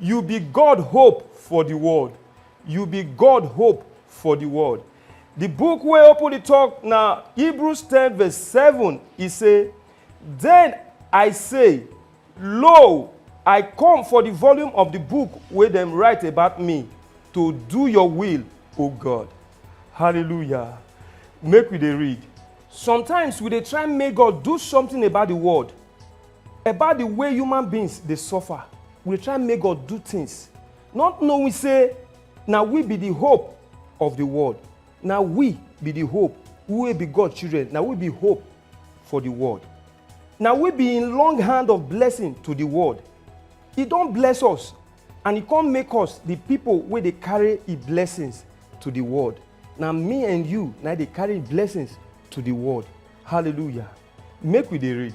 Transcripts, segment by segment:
You be God hope for the world. You be God hope for the world. The book wey open the talk na Hebrews 10 verse 7. E say, Then I say, Lo, I come for the volume of the book wey dem write about me to do your will, O God. Hallelujah. Make we dey read. Sometimes we dey try make God do something about the world. About di way human beings dey suffer, we dey try make God do tins, not knowing sey na we be di hope of di world. Na we be di hope, we wey be God children, na we be hope for di world. Na we be im long hand of blessing to di world. E don bless us and e come make us di pipo wey dey carry im blessings to di world. Na me and you na im dey carry im blessings to di world. Hallelujah! Make we dey read.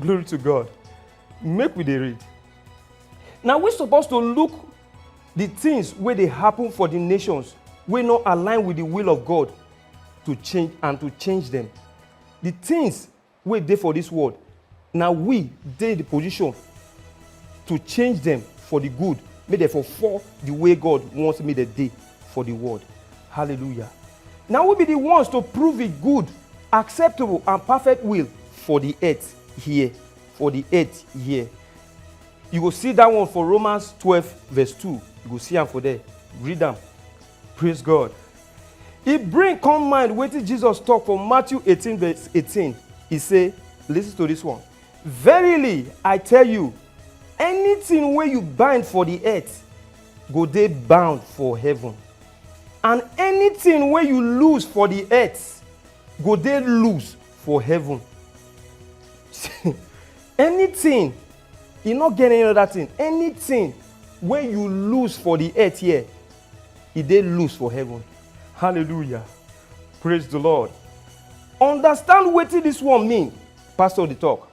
glory to god make we dey read na we suppose to look the things wey dey happen for the nations wey no align with the will of god to change and to change them the things wey dey for this world na we dey the position to change them for the good make dem for fall the way god want make dem dey for the world. Hallelujah. Now we be the ones to prove it good, acceptable, and perfect will for the earth here. For the earth here. You go see that one for Romans 12, verse 2. You go see am for there. Read them. Praise God. He bring come mind wetin Jesus talk for Matthew 18, verse 18. He say, listen to this one. Verily, I tell you, anything wey you bind for the earth go dey bound for heaven and anything wey you lose for the earth go dey lose for heaven anything e no get any other thing anything wey you lose for the earth here e dey lose for heaven hallelujah praise the lord understand wetin this one mean pastor dey talk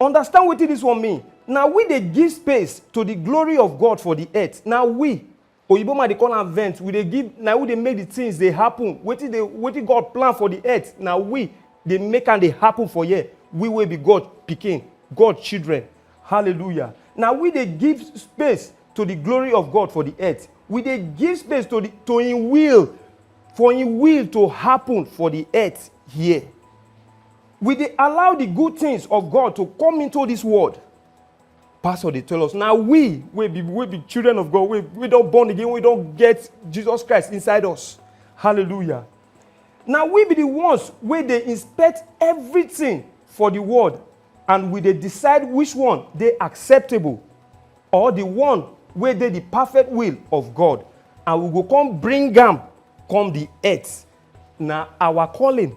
Understand wetin this one mean. Na we dey give space to the glory of God for the earth. Na we. Oyibo man dey call am vent. We dey give, na we dey make the things dey happen. Wetin dey, wetin God plan for the earth, na we dey make am dey happen for here. We wey be God pikin, God children. Hallelujah. Na we dey give space to the glory of God for the earth. We dey give space to the to Him will, for Him will to happen for the earth here. We dey allow the good things of God to come into this world. Pastor dey tell us, na we wey be wey be children of God, wey wey don born again, wey don get Jesus Christ inside us. Hallelujah. Na we be the ones wey dey inspect everything for the world and we dey decide which one dey acceptable or the one wey dey the perfect will of God and we go come bring am come the earth. Na our calling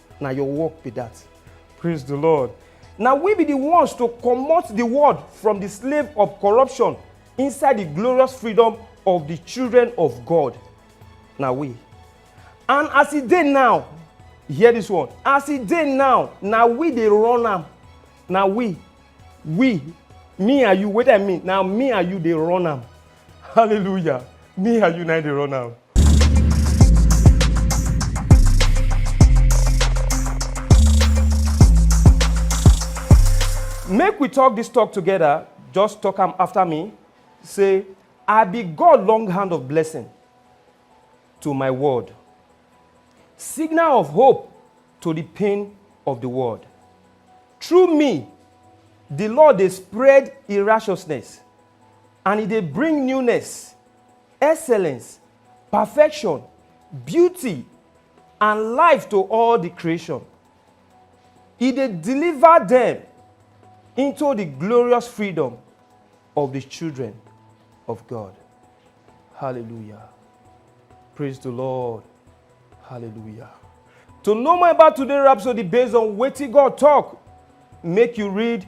na your work be that. Praise the Lord. Now we be the ones to comot the world from the slave of corruption inside the glorious freedom of the children of God. Now we. And as e dey now, hear this one. As e dey now, na we dey run am. Na we, we, me and you, wetin I mean, na me and you dey run am. hallelujah me and you na dey run am. make we talk this talk together just talk am after me say i be god long hand of blessing to my world signal of hope to the pain of the world through me the lord dey spread e righteousness and e dey bring newness, excellence, perfection, beauty and life to all di creation. E dey deliver dem into di glorious freedom of di children of God. Hallelujah. Praise di Lord. Hallelujah. To know more about today Rhapsody based on wetin God talk, make you read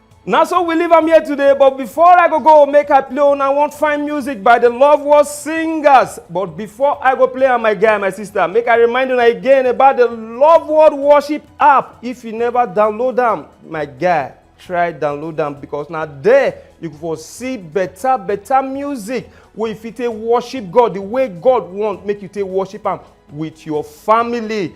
Now, so we leave am here today but before i go go make i play una wan find music by the love world singers but before i go play am my guy my sister make i remind una again about the love world worship app if you never download am my guy try download am because na there you go see better better music wey you fit take worship god the way god want make you take worship am with your family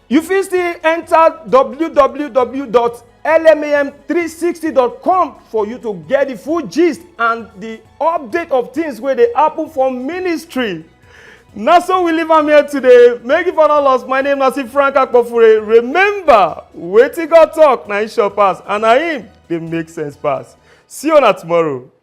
You fit still enter www.lmam360.com for you to get the full gist and the update of things wey dey happen for ministry. Na so we leave am here today. Make you for no loss. My name na Frank Akpofure. Remember, wetin God talk na him sure pass and na him dey make sense pass. See una tomorrow.